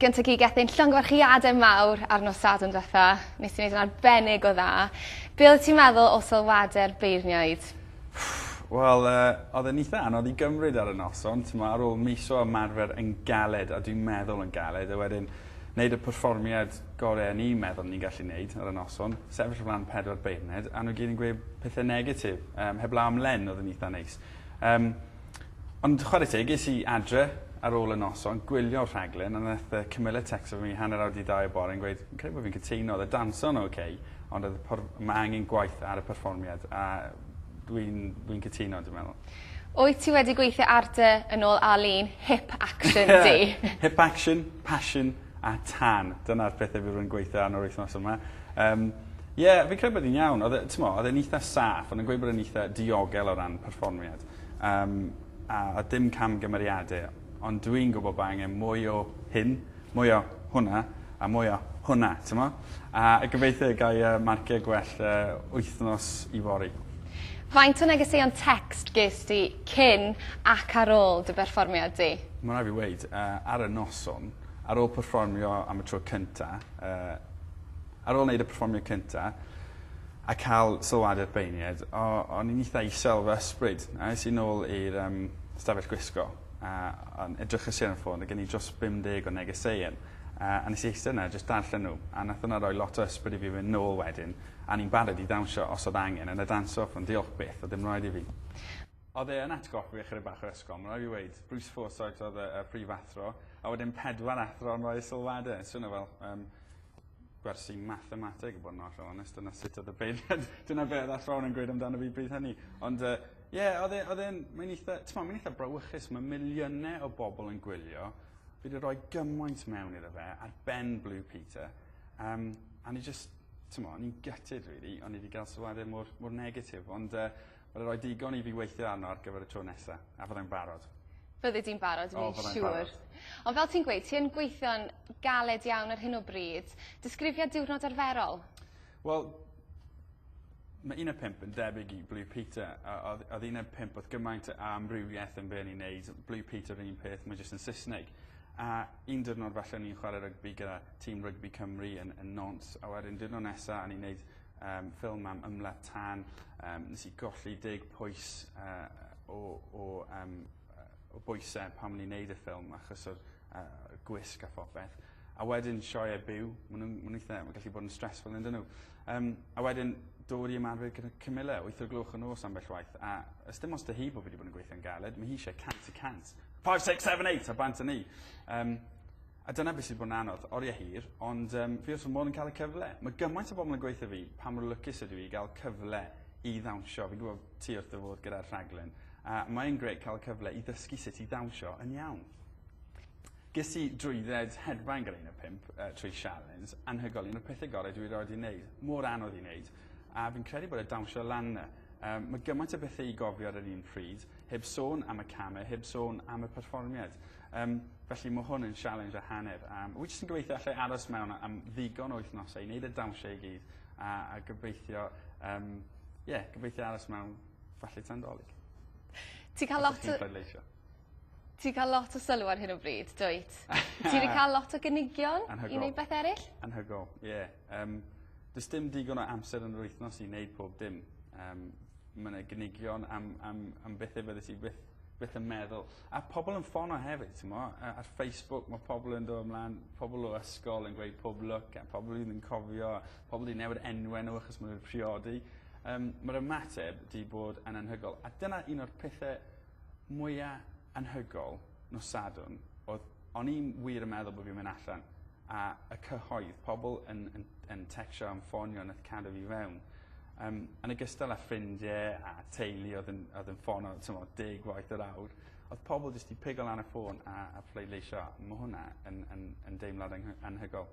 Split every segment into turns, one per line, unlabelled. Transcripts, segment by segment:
Gyntaf i Gethin llongyfarchiade mawr ar nos Sadwrn dwetha. Nes ti neud yn arbennig o dda. Be' oddet ti'n meddwl o sylwade'r beirniaid? Wel
yy odd e'n itha anodd i gymryd ar y noson t'mo' ar ôl mis o ymarfer yn galed a dwi'n meddwl yn galed a wedyn neud y perfformiad gore o'n i'n meddwl o'n i'n gallu neud ar y noson sefyll o flan pedwar beirniad a n'w gyd yn gweu' pethe negatif yym heblaw am Len odd yn itha neis. Yym. Ond chware teg, es i adre ar ôl y noson, gwylio'r rhaglen, a nath y cymyle tecsto fi hanner awr 'di ddau y bore yn gweud, fi'n credu bo' fi'n cytuno, o'dd y danso'n ok, ond o'dd y por- ma' angen gwaith ar y perfformiad, a dwi'n dwi'n cytuno dwi meddwl. Wyt ti wedi
gweithio ar dy, yn ôl Arlene, hip action di? Hip action,
passion a tân. Dyna'r pethe fi rwy'n gweithio arno yr wythnos yma. Yym, ie, fi'n credu bod 'i'n iawn. O'dd e, t'mo', o'dd e'n itha saff, o'n nw'n gweud bod e'n itha diogel o ran perfformiad. Yym, a oedd dim camgymeriade. Ond dw i'n gwybod bod angen mwy o hyn, mwy o hwnna, a mwy o hwnna, t'mo? A gobeithio y ga i yy marciau gwell yy wythnos yfory. Faint
o negeseuon tecst gest ti cyn ac ar ôl dy berfformiad di? Mae'n rhaid fi weud, yy,
ar y noson, ar ôl perfformio am y tro cynta, yy, ar ôl neud y perfformiad cynta, a cael sylwadau'r beirniaid, o, o'n i'n eitha isel fy ysbryd, a es i nôl i'r um, stafell gwisgo, a o'n edrych y ar y ffôn, a gen i dros 50 o negeseuon, a, a nes i eistedd yna a jyst darllen nhw, a nath hwnna roi lot o ysbryd i fi fynd nôl wedyn, a ni'n barod i ddawnsio os oedd angen, yn y dance off, ond diolch byth, oedd dim raid i fi. Oedd e yn atgoffa fi ychydig bach o'r ysgol, mae'n rhaid fi weud. Bruce Forsyth oedd y, y prif athro, a wedyn pedwar athro yn rhoi sylwadau. Swnio fel um, gwersi mathemateg i bod yn ollol onest dyna sut odd y beirniad dyna be' odd athrawon yn gweud amdano fi bryd hynny ond yy ie odd e odd e'n mae'n eitha t'mo' mae'n eitha brawychus ma' miliyne o bobol yn gwylio fi 'di roi gymaint mewn iddo fe ar ben Blue Peter yym a o'n i jyst t'mo' o'n i'n gutted rili o'n i 'di ga'l sylwade mor mor negatif ond yy Wel y roi digon i fi weithio arno ar gyfer y tro nesa. A fyddai'n barod. Fyddi di'n barod
dwi'n siŵr. O fyddai'n barod. Ond fel ti'n gweud ti yn gweithio'n galed iawn ar hyn o bryd. Disgrifia diwrnod arferol. Wel
ma' un a pump yn debyg i Blue Peter a odd odd un a pump o'dd gymaint o amrywieth yn be' o'n i'n neud Blue Peter yr un peth ma' jyst yn Sysneg. A un diwrnod falle o'n i'n chware rygbi gyda tîm rygbi Cymru yn yn Nantes a wedyn diwrno nesa o'n i'n neud Yym ffilm am ymladd tân. Yym nes i golli deg pwys yy o o yym yy o bwyse pan o'n i'n neud y ffilm achos o'r yy y gwisg a phopeth. A wedyn sioe byw. Ma' nw'n ma' n'w itha ma'n gallu bod yn stressful on'd 'yn n'w? Yym a wedyn dod i ymarfer gyda Camilla wyth o'r gloch y nos ambell waith a yy sdim ots 'da hi bo' fi 'di bod yn gweithio'n galed ma' hi isie cant y cant. Five six seven eight a bant a ni. Yym. A dyna beth sy 'di bod yn anodd. Oriau hir, ond yym fi wrth fy modd yn cael y cyfle. Ma' gymaint o bobl yn gweutho fi pa mor lwcus ydw i i ga'l cyfle i ddawnsio. Fi'n gwbo ti wrth dy fodd gyda'r rhaglen a mae e'n grêt ca'l y cyfle i ddysgu sut i ddawnsio yn iawn. Ges i drwydded hedfan gyda un o pump yy trwy sialens anhygol un o'r pethe gore dwi erioed 'di neud. Mor anodd i neud a fi'n credu bod e dawnsio lan 'na. Yym ma' gymaint o bethe i gofio ar yr un pryd, heb sôn am y came, heb sôn am y perfformiad. Yym, felly mae hwn yn sialens a hanner. Um, wy jyst yn gobeithio allai aros mewn am ddigon o wythnosau i wneud y dawnsio i gyd a, a gobeithio, um, yeah, gobeithio aros mewn falle tan dolyg. Ti'n cael
lot o... Ti'n cael lot o sylw ar hyn o bryd, dwyt? Ti'n wedi cael lot o gynigion i wneud beth eraill? Anhygol, ie. Yeah.
Um, Does dim digon o amser yn yr wythnos i wneud pob dim. Um, mae yna gynigion am, am, am bethau byddes i byth beth yn meddwl. A pobl yn ffono hefyd, ti'n mo? Ar Facebook mae pobl yn dod ymlaen, pobl o ysgol yn gweud pob look, a pobl i'n yn cofio, pobl i'n newid enwen nhw achos maen nhw'n priodi. Um, Mae'r ymateb di bod yn anhygol. A dyna un o'r pethau mwyaf anhygol nos sadwn, oedd o'n i'n wir yn meddwl bod fi'n mynd allan, a y cyhoedd, pobl yn, yn, yn texio am ffonio nath cadw fi fewn. Yym, yn ogystal â ffrindie a teulu oedd yn oedd yn ffono t'mo' deg waith yr awr odd pobol jyst 'di pigo lan y ffôn a a phleidleisio. Ma' hwnna yn yn yn deimlad anghy- anhygol.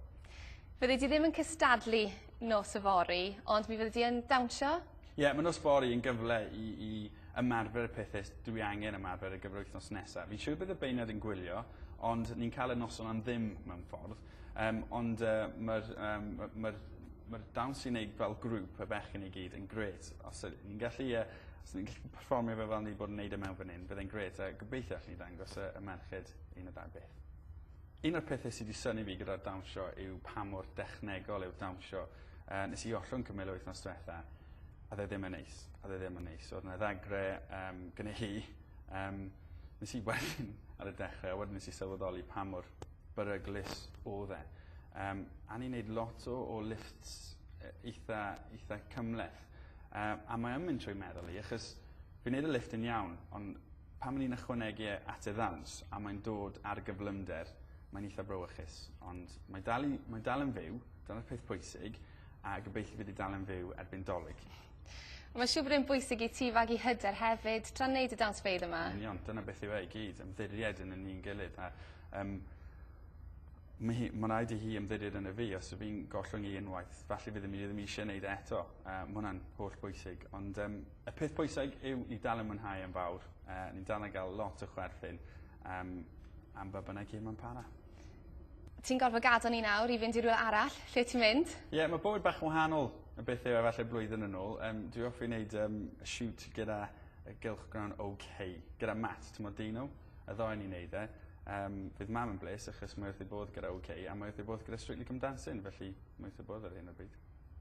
Fyddi di
ddim yn cystadlu nos yfory ond mi fyddi di yn dawnsio? Ie ma' nos fory
yn gyfle i i ymarfer y pethe s- dwi angen ymarfer ar gyfer wythnos nesa. Fi'n siŵr bydd y beirniad yn gwylio ond ni'n ca'l y noson am ddim mewn ffordd. Yym ond yy ma'r yym ma' ma'r ma'r dawns sy'n neud fel grŵp y bechgyn i gyd yn grêt os yd- ni'n gallu yy os ni'n gallu perfformio fe fel ni 'di bod yn neud e mewn fan 'yn bydd e'n grêt a gobeithio allen ni ddangos y y merched un y ddau beth. Un o'r pethe sy 'di synnu fi gyda'r dawnsio yw pa mor dechnegol yw'r dawnsio yy nes i ollwng cwmwl yr wythnos dwetha a o'dd e ddim yn neis a o'dd e ddim yn neis o'dd 'na ddagre yym gynne hi yym nes i ar y dechre a wedyn nes i sylweddoli pa mor beryglus odd e. Yym a o'n i'n neud lot o o lifts yy eitha eitha cymhleth. Yy a mae yn mynd trwy meddwl i achos fi'n neud y lifft yn iawn on' pan o'n i'n ychwanegu e at y ddawns a mae'n dod ar gyflymder mae'n eitha brawychus. Ond mae dal i mae dal yn fyw dyna'r peth pwysig a gobeithio bydd 'i dal yn fyw erbyn 'Dolig. Mae'n siŵr
bod e'n bwysig i ti fagu hyder hefyd tra'n neud y dawnsfeydd yma. Yn union, dyna beth yw e i
gyd, ymddiried yn y ni'n gilydd a um, mae hi, mae'n rhaid i hi ymddiried yn y fi os ydw i'n gollwng i unwaith. Falle bydd mi ddim eisiau gwneud e eto. Uh, mae hwnna'n holl bwysig. Ond um, y peth pwysig yw ni dal yn mwynhau yn fawr. Uh, ni'n dal yn cael lot o chwerthin um, am ba bynnag hyn mae'n para. Ti'n
gorfod gadel ni nawr i fynd i rywle arall. Lle ti'n mynd? Ie yeah, mae bywyd bach yn
wahanol y beth yw efallai blwyddyn yn ôl. Um, dwi offi wneud um, y siwt gyda y gylchgrawn OK, gyda Matt, ti'n modd dyn nhw, y ddoen ni'n neud e. Um, fydd mam yn bles achos mae wrth ei bodd gyda OK a mae wrth ei bodd gyda Strictly Come Dancing, felly mae wrth ei bodd ar hyn o bryd.